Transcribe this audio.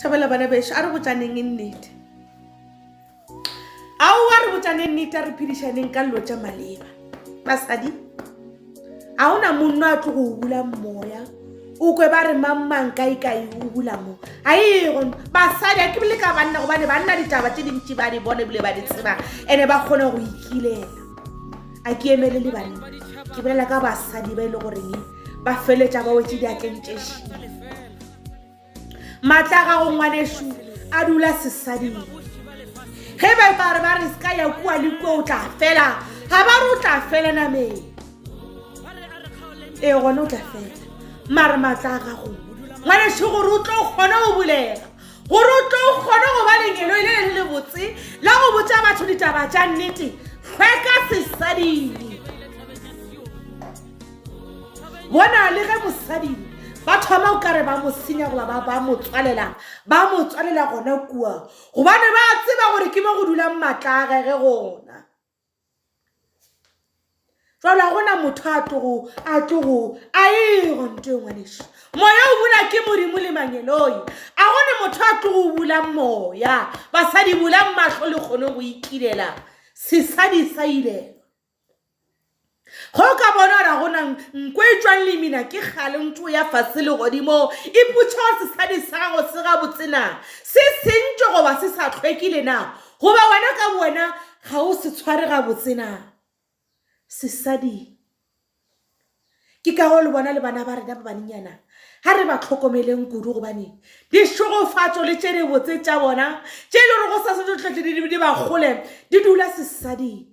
Thabela bana bešo, a re botšaneng e nnete. Ao a re botšaneng nnete, a re phedišaneng ka lilo tša maleba. Basadi, ga o na monno a tlo go o bula moya, o kwe ba re mangmang kaekae o bula mo. Ga e gono, basadi, a ke bile ka banna gobane banna ditaba tše dintši ba di bone ebile ba di tseba ene ba kgone go ikilela. A ke emele le banna, ke bolela ka basadi ba e le goreng ba feletša ba wetse diatleng tše šii. matla a gago ngwanešu a dula sesading ge ba ba re ba re se ka ya kua le kua o tla fela ga ba re o tla fela nameng ee gone o tla fela mare matla a gago ngwanešu gore o tlo kgone go bulega gore o tlo kgone go ba lengelo e le le le botse la go botsa batho ditaba tša nnete hlweka sesading bona le ge mosadi ba thoma o kare ba mo senya goba ba ba mo tswalela ba mo tswalela gona kua gobane ba tseba gore ke mo go dulang maatla a gege gona jalo ga gona motho a tlogo a tlogo a ego nto e ngwaneso moya o bula ke modimo le mangeloi a gone motho a tlogo o bulang moya basadi bulang matlho le kgone go ikilela sesadi sa ilelwa Ge o ka bona gore go na nko e tšwang lemina ke gale nto ya fase legodimo e putša gore sesadi sa gago se gabotse na se sentše goba se sa tlhwekile na goba wena ka bowena ga o se tshware gabotse na sesadi ke ka go le bona le bana ba rena ba banenyana ga re ba tlhokomeleng kudu gobane dixogofatso le tše dibotse tša bona tše e le gore go sa se tlo tlhotle di ba kgole di dula sesading